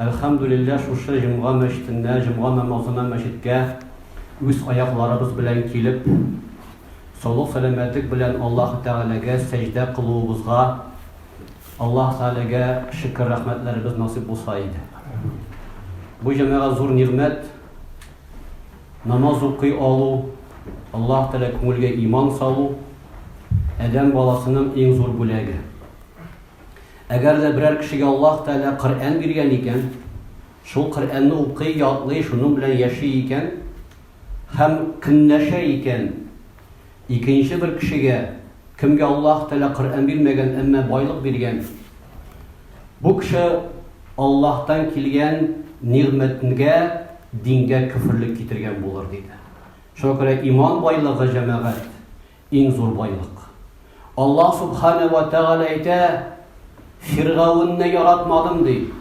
Әлхәмдүлилләһ, шушы җомга мәчетенә, җомга намазына мәчеткә үз аякларыбыз белән килеп, саулык-сәламәтлек белән Аллаһы Тәгаләгә сәҗдә кылуыбызга Аллаһы Тәгаләгә шөкер-рәхмәтләребез насыйп булса иде. Бу җәмәгать зур нигъмәт, намаз укый алу, Аллаһы Тәгалә күңелгә иман салу, адәм баласының иң зур бүләге. Әгәр дә берәр кешегә Аллаһ Тәгалә Коръән биргән икән, шул Коръәнне укый, ятлый, шуның белән яши икән һәм көнләшә икән, икенче бер кешегә, кемгә Аллаһ Тәгалә Коръән бирмәгән, әмма байлык биргән, бу кеше Аллаһтан килгән нигъмәтнгә, дингә көферлек китергән булыр, диде. Шуңа күрә иман байлыгы, җәмәгать, Иң зур байлык. Аллаһ Субхана вә Тәгалә әйтә, Фиргавенне яратмадым, ди.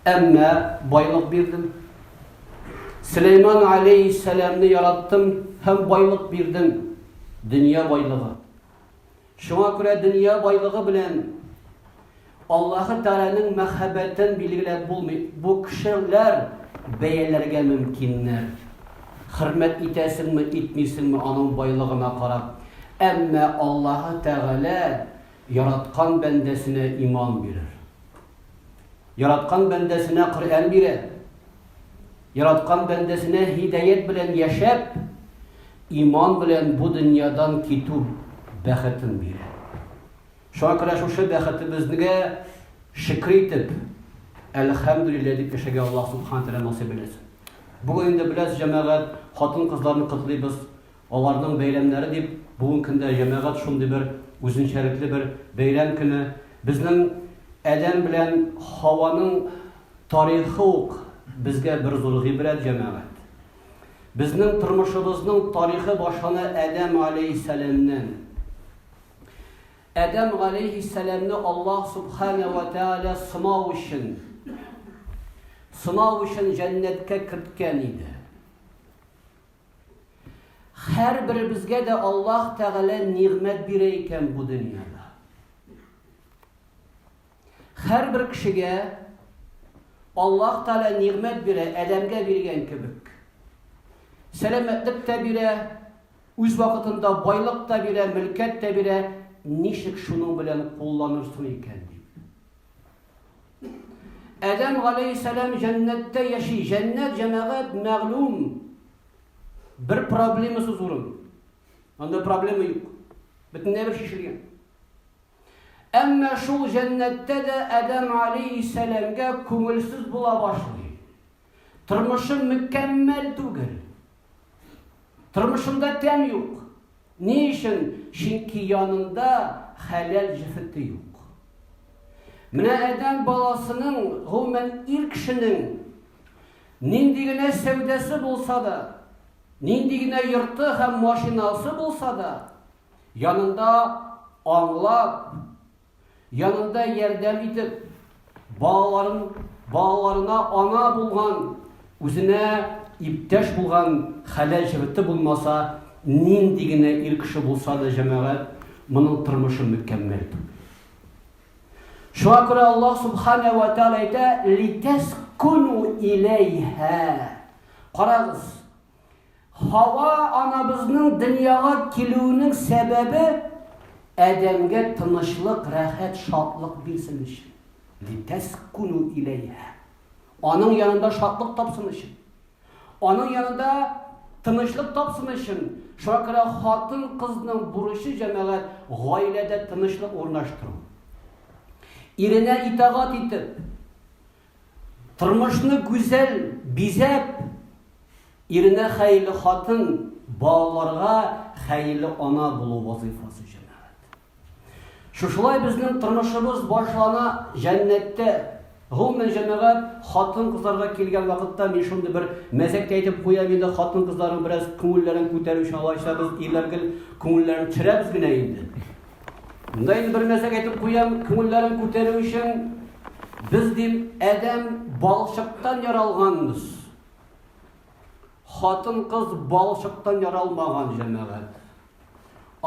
Әмма байлык бирдем. Сөләйман алейхиссәламне яраттым һәм байлык бирдем. Дөнья байлыгы. Шуңа күрә дөнья байлыгы белән Аллаһы Тәгаләнең мәхәббәтен билгеләп булмый. Бу кешеләр бәяләргә мөмкиннәр. Хөрмәт итәсеңме, итмисеңме аның байлыгына карап. Әмма Аллаһы Тәгалә яраткан бәндәсенә иман бирер. Яраткан бәндәсенә Коръән бирә. Яраткан бәндәсенә һидәят белән яшәп, иман белән бу дөньядан китү бәхетен бирә. Шуңа күрә шушы бәхетебезгә шөкер итеп, әлхәмдүлилләһ дип яшәгә Аллаһ субхана тәгалә насыйп әйләсен. Бүген инде беләс җәмәгать, хатын-кызларны котлыйбыз. Аларның бәйрәмнәре дип бүгенге көндә җәмәгать шундый бер үзенчәлекле бер бәйрәм көне. Безнең Адәм белән Һаваның тарихы ук безгә бер зур гыйбрәт, җәмәгать. Безнең тормышыбызның тарихы башлана Адәм галәйһиссәламнән. Адәм галәйһиссәламне Аллаһ субхана ва тааля сынау өчен сынау өчен җәннәткә керткән иде. Һәрберебезгә дә Аллаһ Тәгалә нигъмәт бирә икән бу дөньяда. Һәрбер кешегә Аллаһ Тәгалә нигъмәт бирә, Адәмгә биргән кебек. Сәламәтлек тә бирә, үз вакытында байлык та бирә, мөлкәт тә бирә, ничек шуның белән кулланырсың икән дип. Адәм галәйһиссәлам җәннәттә яши. Җәннәт җәмәгать мәгълүм бер проблемасыз урын. Анда проблема юк. Бөтенләй бер шешелгән. Әмма шул җәннәттә дә Адәм галәйһиссәламга күңелсез була башлый. Тормышым мөккәммәл түгел. Тормышымда тәм юк. Ни өчен? Чөнки янында хәләл җефете юк. Менә адәм баласының, гомумән ир кешенең нинди генә сәүдәсе булса да, нинди генә йорты һәм машинасы булса да, янында аңлап, янында ярдәм итеп, балаларын, балаларына ана булган, үзенә иптәш булган хәлә җырты булмаса, нинди генә ир кеше булса да җәмәгать, моның тормышы мөкәммәл түгел. Шуңа күрә Аллаһ субхана ва тааля әйтә, "Литәскуну иләйһә". Карагыз, Хава анабызның дөньяга килүенең сәбәбе Адәмгә тынычлык, рәхәт, шатлык бирсен өчен. Литәскуну иләйһә. Аның янында шатлык тапсын өчен. Аның янында тынычлык тапсын өчен. Шуңа күрә хатын-кызның бурычы җәмәгать гаиләдә тынычлык урнаштыру. Иренә итагать итеп, Тормышны гүзәл бизәп, иренә хәерле хатын, балаларга хәерле ана булу вазыйфасы, җәмәгать. Шушылай безнең тормышыбыз башлана җәннәттә. Гомумән, җәмәгать, хатын-кызларга килгән вакытта мин шундый бер мәзәк тә әйтеп куям инде, хатын-кызларның бераз күңелләрен күтәрү өчен алайса без ирләр гел күңелләрен терәбез генә инде. Монда инде бер нәрсәгә әйтеп куям, күңелләрен күтәрү өчен, без, дим, адәм балчыктан яралганбыз. Хатын-кыз балчыктан яралмаган, җәмәгать.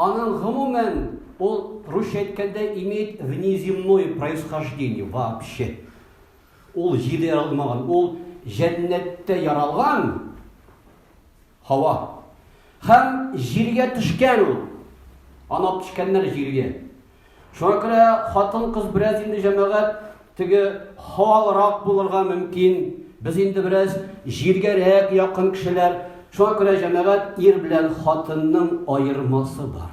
Аның, гомумән, ул, русча әйткәндә, имеет внеземное происхождение вообще. Ул җирдә яралмаган, ул җәннәттә яралган. Һава. Һәм җиргә төшкән ул. Анап төшкәннәр җиргә. Шуңа күрә хатын-кыз бераз инде җәмәгать теге һавалырак булырга мөмкин. Без инде бераз җиргәрәк якын кешеләр. Шуңа күрә җәмәгать ир белән хатынның аермасы бар.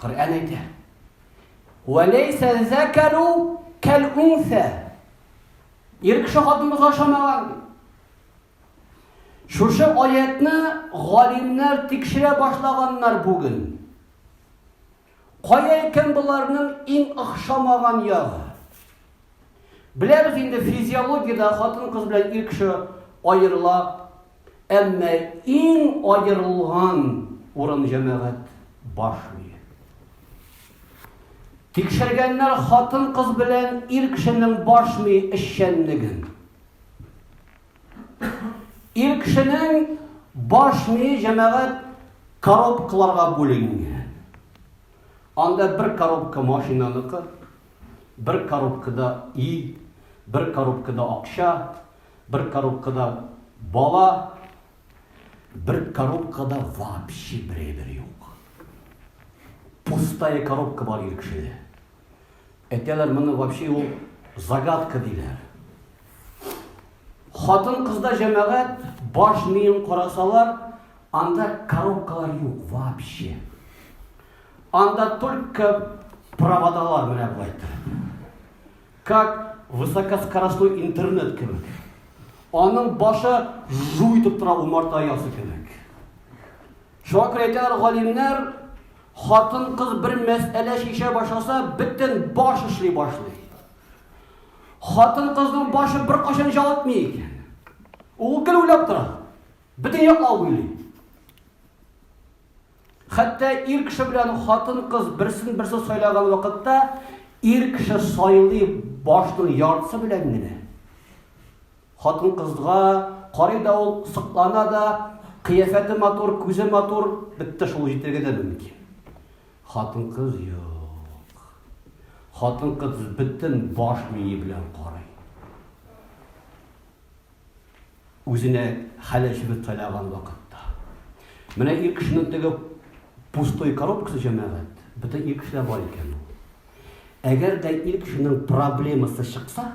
Коръән әйтә. Вәләйсә зәкәру кәл унсә. Ир кеше хатын кызга ошамаган. Шушы аятны галимнәр тикшерә башлаганнар бүген. Кая икән боларның иң охшамаган ягы? Беләбез инде физиологиядә хатын кыз белән ир кеше аерыла Әмма иң аерылган урын җәмәгать баш мие. Тикшергәннәр хатын-кыз белән ир кешенең баш мие эшчәнлеген. Ир кешенең баш мие җәмәгать коробкаларга бүленгән. Анда бер коробка машинаныкы, бер коробкада ил, бер коробкада акча, Бер коробкада бала, бер коробкада вообще бер әйбер юк. Пустая коробка бар ир кешедә. Әйтәләр, моны вообще ул загадка диләр. Хатын кызда җәмәгать баш миен карасалар, анда коробкалар юк вообще. Анда только проводалар менә булай. Как высокоскоростной интернет кебек. Аның башы жу итеп тора умарта ясы кебек. Шуңа күрә әйтәләр галимнәр, хатын-кыз бер мәсьәлә шиша башласа, бөтен баш эшли башлый. Хатын-кызның башы бер кашын җавытмый икән. Ул гел уйлап тора. Бөтен яклап уйлый. Хәтта ир кеше белән хатын-кыз берсен-берсе сайлаган вакытта ир кеше сайлый башның яртысы белән генә. Хатын-кызга карый да ул сыклана да, кыяфәте матур, күзе матур, бетте шул җитергә дә мөмкин. Хатын-кыз юк. Хатын-кыз бөтен баш мие белән карый. Үзенә хәле җебеп кайнаган вакытта. Менә ир кешенең теге пустой коробкасы, җәмәгать, бөтен ир кешедә бар икән ул. Әгәр дә ир кешенең проблемасы чыкса,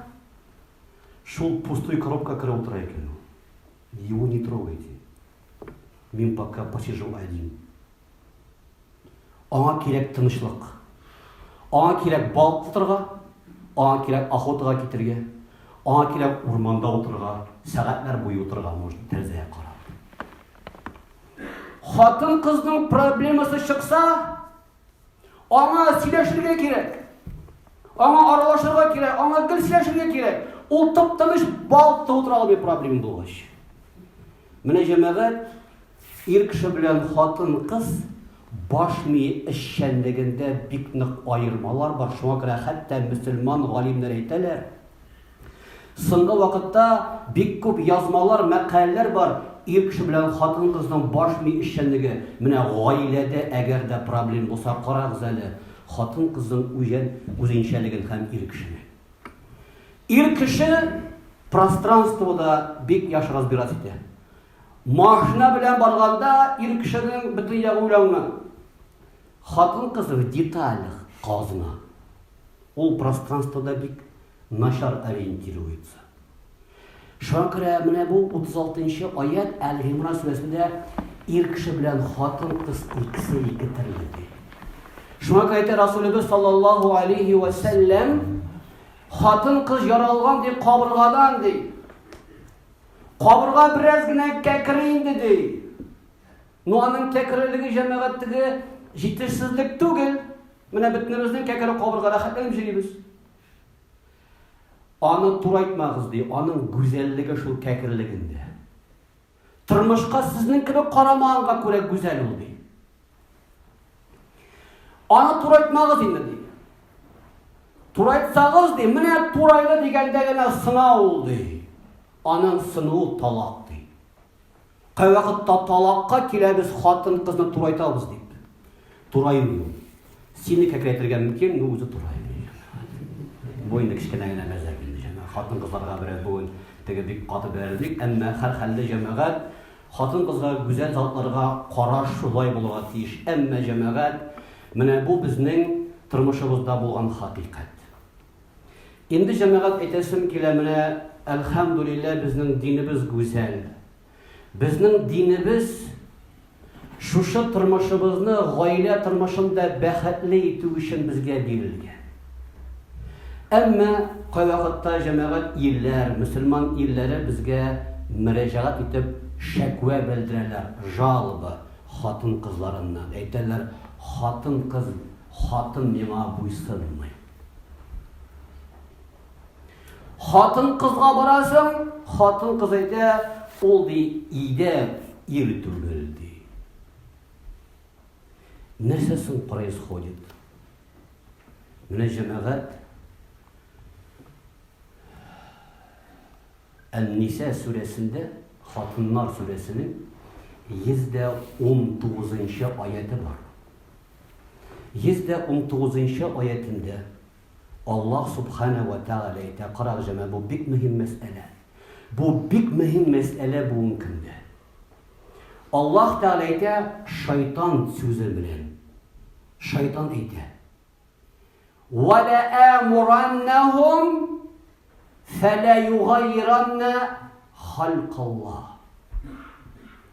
шул пустой коробка керә утыра икән ул. Его не трогайте. Мин пока посижу один. Аңа кирәк тынычлык. Аңа кирәк бал тотырга, аңа кирәк охотага китергә, аңа кирәк урманда утырга, сәгатьләр буе утырга может тәрәзәгә карап. Хатын кызның проблемасы чыкса, аңа сөйләшергә кирәк. Аңа аралашырга кирәк, аңа гел сөйләшергә кирәк. Ул тып-тыныч бал тотып утыра алмый проблема булгач. Менә җәмәгать, ир кеше белән хатын-кыз баш мие эшчәнлегендә бик нык аермалар бар, шуңа күрә хәтта мөселман галимнәр әйтәләр, соңгы вакытта бик күп язмалар, мәкаләләр бар, ир кеше белән хатын-кызның баш мие эшчәнлеге. Менә гаиләдә әгәр дә проблем булса, карагыз әле, хатын-кызның үзен, үзенчәлеген һәм ир кешенең. Ир кеше пространствода бик яхшы разбирать итә. Машина белән барганда ир кешенең бөтен ягы уйланган. Хатын кызы в деталях казна. Ул пространствода бик начар ориентируется. Шуңа күрә менә бу 36 нчы аять Әл-Гимран сүрәсендә ир кеше белән хатын-кыз икесе ике төрле ди. Шуңа күрә әйтә Расулебез саллаллаһу алейхи ва сәлләм хатын-кыз яралган ди кабыргадан ди. Кабырга бераз генә кәкре инде ди. Ну аның кәкрелеге җәмәгатьтәге җитешсезлек түгел. Менә бөтенебезнең кәкре кабыргада хәтләнеп җөрибез. Аны турайтмагыз, ди, аның гүзәллеге шул кәкерлегендә. Тормышка сезнең кебек карамаганга күрә гүзәл ул, ди. Аны турайтмагыз инде, ди. Турайтсагыз, ди, менә турайды дигәндә генә сына ул, ди. Аның сынуы талак, ди. Кайвакытта талакка киләбез хатын-кызны турайтабыз дип. Тураймый ул. Сине кәкрәтергә мөмкин, но үзе тураймый. Буйны кечкенә генә мәзәк инде җәмәгать. Хатын-кызларга берәр бүген теге бик каты бәрелик, әмма һәрхәлдә җәмәгать хатын-кызга гүзәл затларга караш шулай булырга тиеш. Әмма җәмәгать, менә бу безнең тормышыбызда булган хакыйкать. Инде җәмәгать әйтәсем килә менә әлхәмдүлиллә безнең динебез гүзәл. Безнең динебез шушы тормышыбызны гаилә тормышында бәхетле итү өчен безгә бирелгән. Әмма кайвакытта җәмәгать илләр, мөселман илләре безгә мөрәҗәгать итеп шәквә белдерәләр, жалоба, хатын-кызларыннан. Әйтәләр, хатын-кыз, хатын миңа буйсынмый. Хатын кызга барасың, хатын кыз әйтә, ул ди иде ир түгел ди. Нәрсә соң происходит? Менә җәмәгать Ән-Ниса сүрәсендә, Хатыннар сүрәсенең 119 нчы аяты бар. Йөз дә унтугызынчы аятендә Аллаһ Субханә вә Тәгалә әйтә, карагыз, җәмәгать, бу бик мөһим мәсьәлә. Бу бик мөһим мәсьәлә бүгенге көндә. Аллаһ Тәгалә әйтә, шайтан сүзе белән. Шайтан әйтә. Ва ла амураннахум фәлә югайранна халкаллаһ.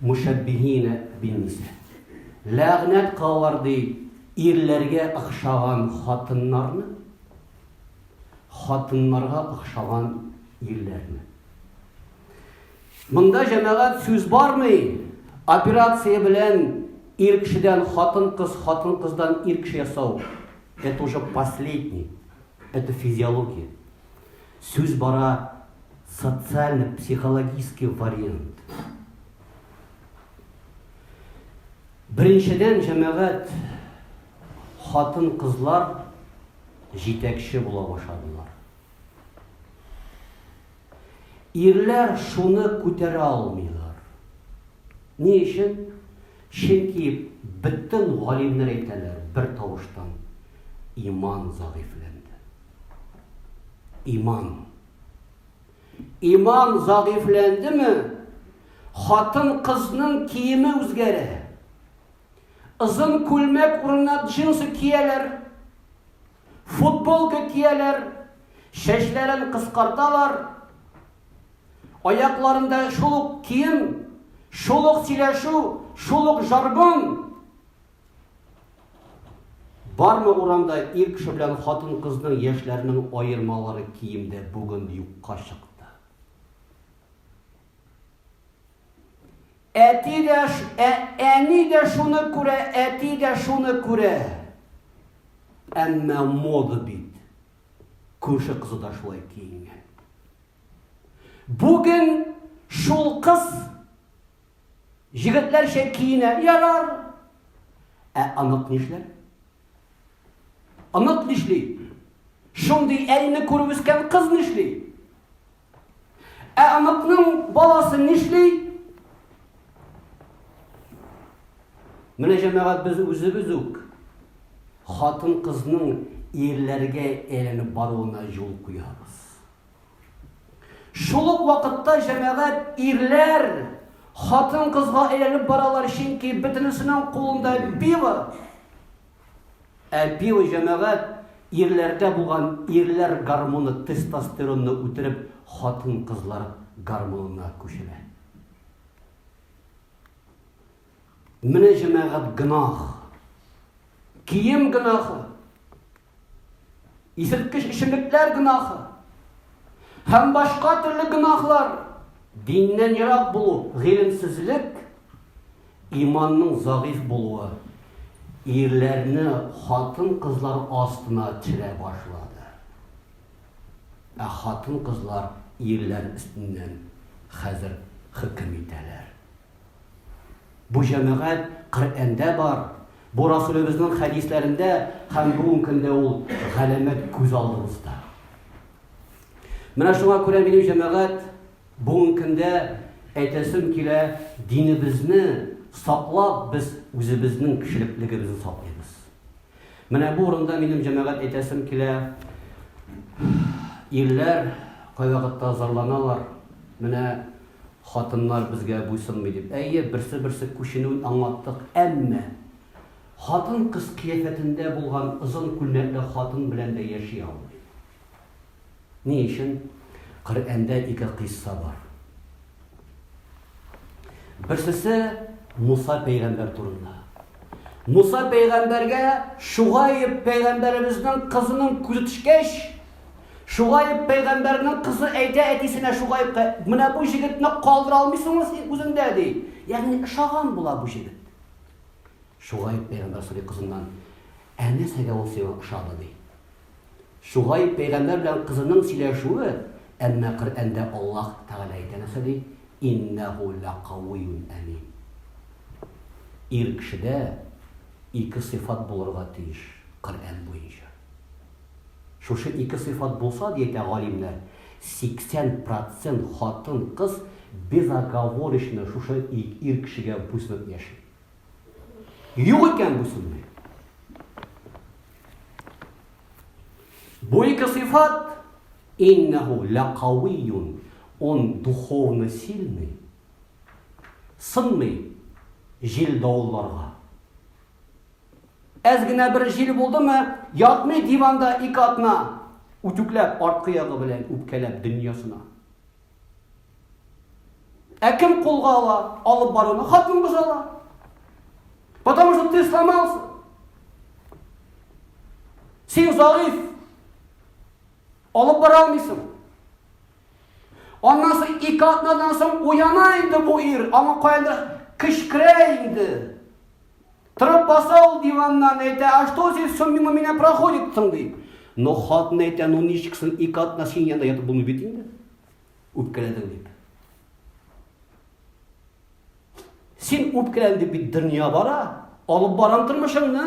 Мушәббиһин бин-ниса. Ләгънәт калыр, ди, ирләргә охшаган хатыннарны, хатыннарга охшаган ирләрне. Монда җәмәгать сүз бармый, операция белән ир кешедән хатын-кыз, хатын-кыздан ир кеше ясау. Это уже последний, это физиология. Сүз бара социально-психологический вариант. Беренчедән, җәмәгать хатын-кызлар җитәкче була башладылар. Ирләр шуны күтәрә алмыйлар. Ни өчен? Чөнки бөтен галимнәр әйтәләр бер тавыштан иман загыйфләнде. Иман. Иман зәгыйфьләндеме, хатын-кызның киеме үзгәрә. Озын күлмәк урынына джинсы кияләр, футболка кияләр, чәчләрен кыскарталар, аякларында шул ук кием, шул ук сөйләшү, шул ук жаргон. Бармы урамда ир кеше белән хатын-кызның яшьләренең аермалары киемдә бүген юкка чыкты. Әти дә, ә, әни дә шуны күрә, әти дә шуны күрә. Әмма мода бит. Күрше кызы да шулай киенгән. Бүген шул кыз Җегетләрчә киенә, ярар. Ә онык нишләр? Онык нишли? Шундый әйне күреп үскән кыз нишли? Ә оныкның баласы нишли? Менә җәмәгать без үзебез үк хатын-кызның ирләргә әйләнеп баруына юл куябыз. Шул ук вакытта җәмәгать ирләр хатын-кызга әйләнеп баралар, чөнки бөтенесенең кулында пиво. Ә пиво җәмәгать ирләрдә булган ирләр гормоны тестостеронны үтереп, хатын-кызлар гормонына күчерә. Менә җәмәгать гынах. Кием гынахы. Исерткеч эчемлекләр гөнаһы һәм башка төрле гөнаһлар, диннән ерак булу, гыйлемсезлек, иманның загыйф булуы ирләрне хатын-кызлар астына төшерә башлады. Ә хатын-кызлар ирләр өстеннән хәзер хөкем итәләр. Бу җәмәгать Коръәндә бар, бу Расулебезнең хәдисләрендә һәм бүген көндә ул галәмәт күз алдыбызда. Менә шуңа күрә минем җәмәгать бүген көндә әйтәсем килә, динебезне саклап без үзебезнең кешелеклегебезне саклыйбыз. Менә бу урында минем җәмәгать әйтәсем килә, ирләр кайвакытта зарланалар, менә Хатыннар безгә буйсынмый дип. Әйе, берсе-берсе күченүен аңлаттык, әмма хатын-кыз кыяфәтендә булган озын күлмәкле хатын белән дә яши алмый. Ни өчен? Коръәндә ике кыйсса бар. Берсесе Муса пәйгамбәр турында. Муса пәйгамбәргә Шугаиб пәйгамбәребезнең кызының күзе төшкәч, Шугаиб пәйгамбәрнең кызы әйтә әтисенә Шугаибка, менә бу җегетне калдыра алмыйсыңмы син үзеңдә ди. Ягъни ошаган була бу җегет. Шугаиб пәйгамбәр сорый кызыннан, ә нәрсәгә ул сиңа ошады ди. Шугайб пәйгамбәр белән кызының сөйләшүе, әмма Коръәндә Аллаһ Тәгалә әйтә нәрсә ди, Иннәһү ләкауиюн әмин. Ир кешедә ике сыйфат булырга тиеш, Коръән буенча. Шушы ике сыйфат булса, ди әйтә галимнәр, 80 процент хатын-кыз безоговорочно шушы ир кешегә буйсынып яши. Юк икән бу сүзне. Бу ике сыйфат иннәһу ләкавиюн. Он духовно сильный. Сынмый җил давылларга. Әз генә бер җил булдымы, ятмый диванда ике атна үтүкләп арткы ягы белән үпкәләп дөньясына. Ә кем кулга ала, алып баруны? Хатын бозала. Потому что ты сломался. Син загыйф. Алып бара алмыйсың. Аннан соң ике атнадан соң уяна инде бу ир, аңа каяндыр кычкыра инде. Торып баса ул диваннан, әйтә, а что здесь все мимо меня проходит соң, ди. Но хатын әйтә, ну ничек соң ике атна синең янда ятып булмый бит инде. Үпкәләдең дип. Син үпкәлән дип бит дөнья бара, алып барам тормышыңны.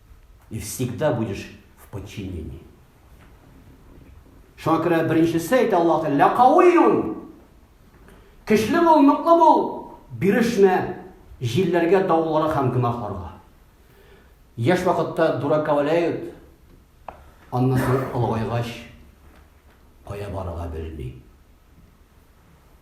И всегда будешь в подчинении. Шуңа күрә беренчесе әйтә Аллаһ Тәгалә, "Лакауиюн". Көчле бул, ныклы бул, бирешмә җилләргә, давылларга һәм гөнаһларга. Яшь вакытта дураковаләют, аннан соң олыгайгач кая барырга белми.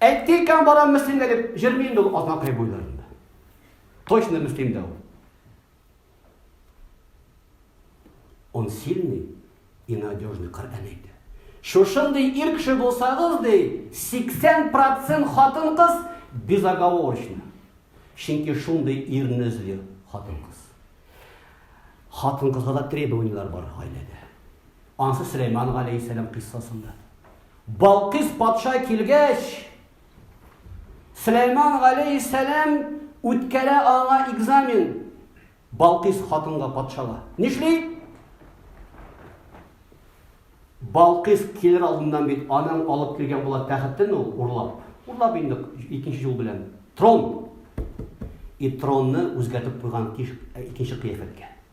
Әйткән барам мөслимгә дип җырмый инде ул Азнакай буйларында. Точно мөслимдә ул. Он сильный и надежный Коръән әйтә. Шушындый ир кеше булсагыз, ди, 80% хатын-кыз безоговорочно. Чөнки шундый ирне эзли хатын-кыз. Хатын-кызга да требованияләр бар гаиләдә. Ансы Сөләйман галәйһиссәлам кыйссасында. Балкыйс патша килгәч, Сөләйман галәйһиссәлам үткәрә аңа экзамен. Балкыйс хатынга патшага нишли? Балкыйс килер алдыннан бит аның алып килгән була тәхетен ул урлап. Урлап инде икенче юл белән. Трон. И тронны үзгәртеп куйган икенче кыяфәткә.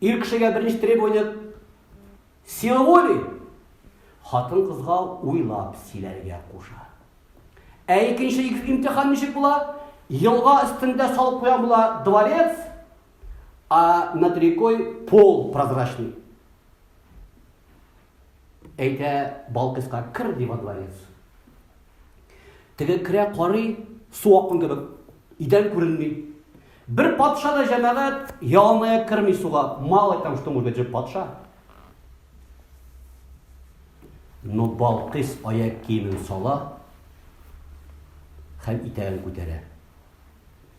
Ир кешегә берничә требование сила воли. Хатын кызга уйлап силәргә куша. Ә икенче имтихан ничек була? Елга өстендә салып куя була дворец, а над рекой пол прозрачный. Әйтә Балкыска, кер, ди во дворец. Теге керә, карый, су аккан кебек, идән күренми. Бер патша да җәмәгать ялмая керми суга. Мало там, что может быть патша. Но Балкыс аяк киемен сала һәм итәген күтәрә.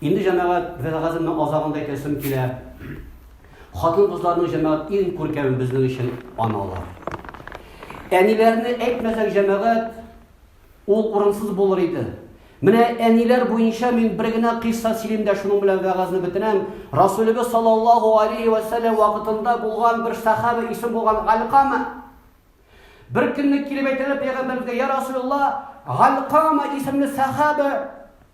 Инде җәмәгать вәгазының азагын да әйтәсем килә. Хатын-кызларның җәмәгать иң күркәме безнең өчен аналар. Әниләрне әйтмәсәк җәмәгать ул урынсыз булыр иде. Менә әниләр буенча мин бер генә кыйсса сөйлим дә шуның белән вәгазны бетерәм. Расулыбыз саллаллаһу алейхи ва саллям вакытында булган бер сахаба исем булган Алкама. Бер көнне килеп әйтәләр пәйгамбәргә, "Я Расулулла, Алкама исемле сахаба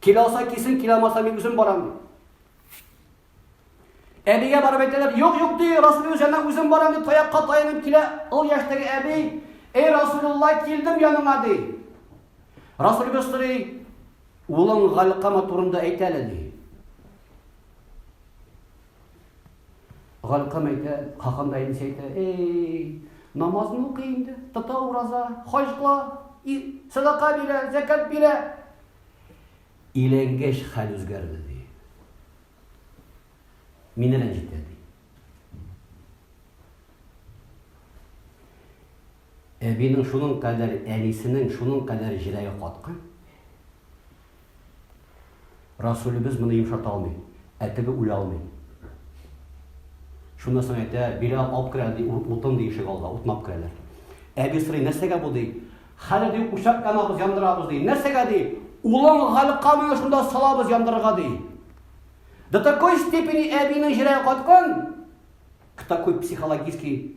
Килә алса килсен, килә алмаса мин үзем барам ди. Әбигә барып әйтәләр, юк, юк ди, Расул үзенә үзем барам ди, таякка таянып килә. Ул яшьтәге әби, эй Расулулла, килдем яныңа ди. Расул Гөстри улың Галкама турында әйтәле ди. Галкам әйтә, хакам да әнисе әйтә, эй, намазны укый инде, тота ураза, хаҗ кыла, садака бирә, зәкәт бирә. Иләнгәч хәл үзгәрде ди. Мине рәнҗетә ди. Әбинең шуның кадәр, әнисенең шуның кадәр җиләге каткан. Расулебез моны йомшарта алмый, ә теге үлә алмый. Шуннан соң әйтә, бирә алып керә, ди, утын ди ишек алга, утнап керәләр. Әби сорый, нәрсәгә бу ди? Хәле ди, учак янабыз, яндырабыз ди. Нәрсәгә ди? Улың Галикка менә шунда салабыз яндырырга ди. До такой степени әбинең җиләге каткан, к такой психологический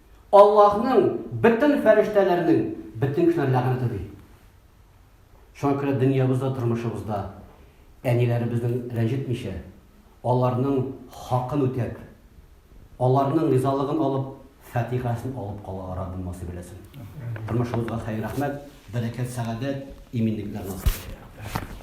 Аллаһның, бөтен фәрештәләрнең, бөтен кешеләр ләгънәте, ди. Шуңа күрә дөньябызда, тормышыбызда әниләребезнең рәнҗетмичә, аларның хакын үтәп, аларның ризалыгын алып, фатихасын алып калырга Раббым насыйп әйләсен. Тормышыбызга хәер-рәхмәт, бәрәкәт, сәгадәт, иминлекләр насыйп әйләсен.